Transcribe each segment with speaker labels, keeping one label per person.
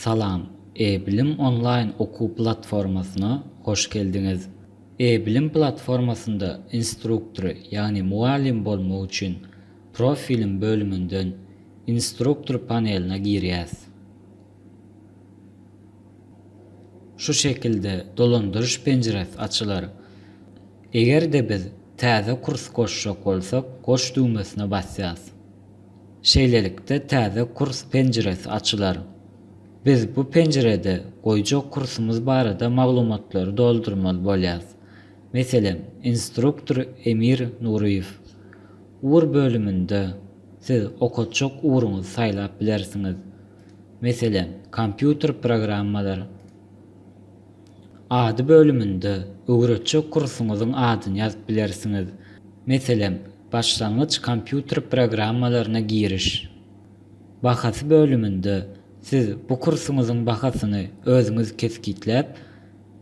Speaker 1: Salam, E-bilim onlaýn okuw platformasyna hoş geldiňiz! E-bilim platformasynda instruktory, ýagny mugallym bolmak üçin Profilim bölüminden Instruktor paneline girýäs. Şu şekilde dolandyryş penjiresi açylar. Eger-de biz Täze kurs goşjak bolsak, Goş düwmesine basýas. Şeýlelikde täze kurs penjiresi açylar. Biz bu penjirede goýjak kursumyz barada maglumatlary doldurmaly bolýarys. Meselem, instruktor Emir Nuryýew. Ugr bölüminde siz okatjak ugruňyzy saýlap bilersiňiz. Meselem, kompýuter programmalary. Ady bölüminde öwretjek kursuňyzyň adyny ýazyp bilersiňiz. Meselem, Başlangyç kompýuter programmalaryna giriş bahasy bölüminde siz bu kursuňyzyň bahasyny özüňiz kesgitläp,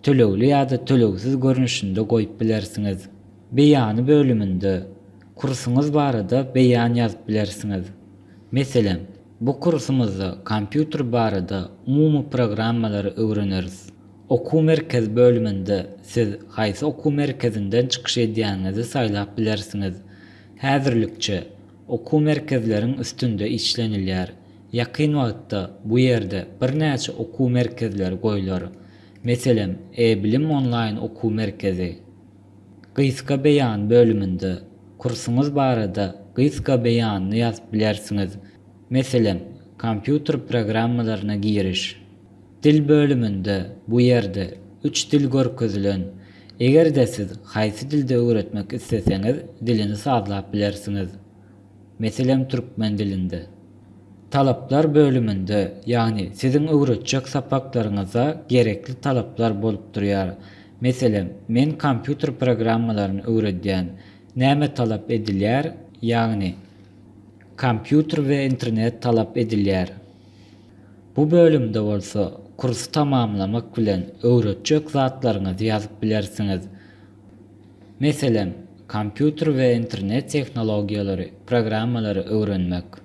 Speaker 1: tölegli ýa-da tölegsiz görnüşinde goýup bilersiňiz. Beýany bölüminde kursuňyz barada beýan ýazyp bilersiňiz. Meselem, bu kursumyzda kompýuter barada umumy programmalary öwreneris. Okuw merkezi bölüminde siz haýsy okuw merkezinden çykyş edýäniňizi saýlap bilersiňiz. Häzirlikçe, okuw merkezleriň üstünde işlenilýär. Ýakyn wagtda bu ýerde birnäçe okuw merkezleri goýlar. Meselem, E-bilim onlaýn okuw merkezi. Gysga beýan bölüminde kursuňyz barada gysga beýanyny ýazyp bilersiňiz. Meselem, Kompýuter programmalaryna giriş. Dil bölüminde bu ýerde üç dil görkezilen. Eger-de siz haýsy dilde öwretmek isleseňiz dilini sazlap bilersiňiz. Meselem türkmen dilinde. Talaplar bölüminde ýagny siziň öwretjek sapaklaryňyza gerekli talaplar bolup durýar. Meselem, men kompýuter programmalaryny öwredýän. Näme talap edilýär? Ýagny, kompýuter we internet talap edilýär. Bu bölümde bolsa kursy tamamlamak bilen öwretjek zatlaryňyzy ýazyp bilersiňiz. Meselem, kompýuter we internet tehnologiýalary, programmalary öwrenmek.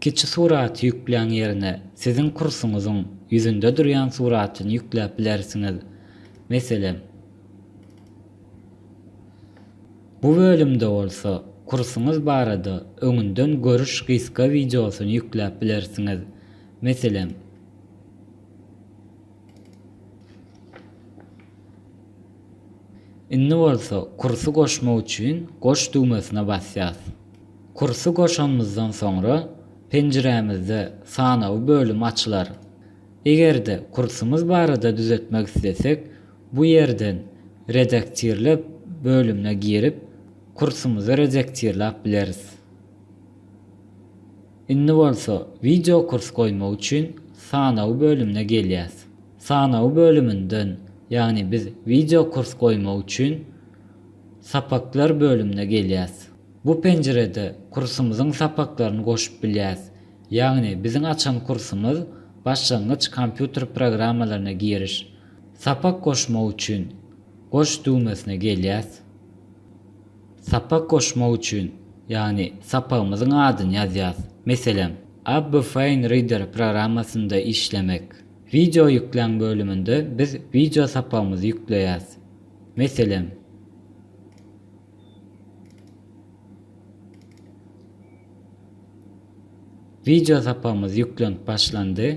Speaker 1: Kiçi suraty ýükläň ýerine siziň kursuňyzyň ýüzünde durýan suratyny ýükläp bilersiňiz. Meselem. Bu bölümde bolsa kursuňyz barada öňünden görüş gysga wideosyny ýükläp bilersiňiz. Meselem. Indi bolsa kursy goşmak üçin Goş düwmesine basýas. Kursy goşanymyzdan soňra penjirämizde Sanawy bölüm açylar. Eger-de kursumyz barada düzetmek islesek, Bu ýerden Redaktirle bölümine girip, kursumyzy redaktirläp bileris. Indi bolsa Wideokurs goýmak üçin Sanawy bölümine gelýäs. Sanawy bölüminden, ýagny biz Wideokurs goýmak üçin Sapaklar bölümine gelýäs. Bu penjirede kursumyzyň sapaklaryny goşup bilýäs, ýagny biziň açan kursumyz Başlangyç kompýuter programmalaryna giriş, Sapak goşmak üçin Goş düwmesine gelýäs. Sapak goşmak üçin, ýagny sapagymyzyň adyny ýazýas. Meselem, AbFain Reader programmasynda işlemek. Wideo ýükläň bölüminde biz wideo sapagymyzy ýükleýäs. Meselem. Wideo sapagymyz ýüklenip başlandy.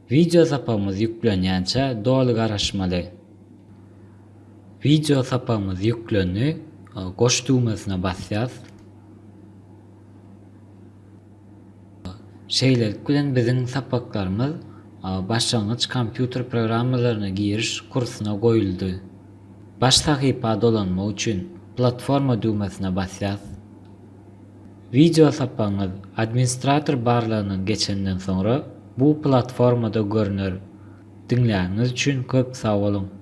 Speaker 1: Wideo sapagymyz ýüklenýänçä doly garaşmaly. Wideo sapagymyz ýüklendi. Goş düwmesine basýas. Şeýlelik bilen biziň sapaklarymyz başlangyç kompýuter programmalaryna giriş kursuna goýuldy. Baş sahypa dolanmak üçin Platforma düwmesine basýas. Wideo sapagyňyz administrator barlagynyň geçenden soňra bu platformada görner. Diňläniňiz üçin köp sag boluň!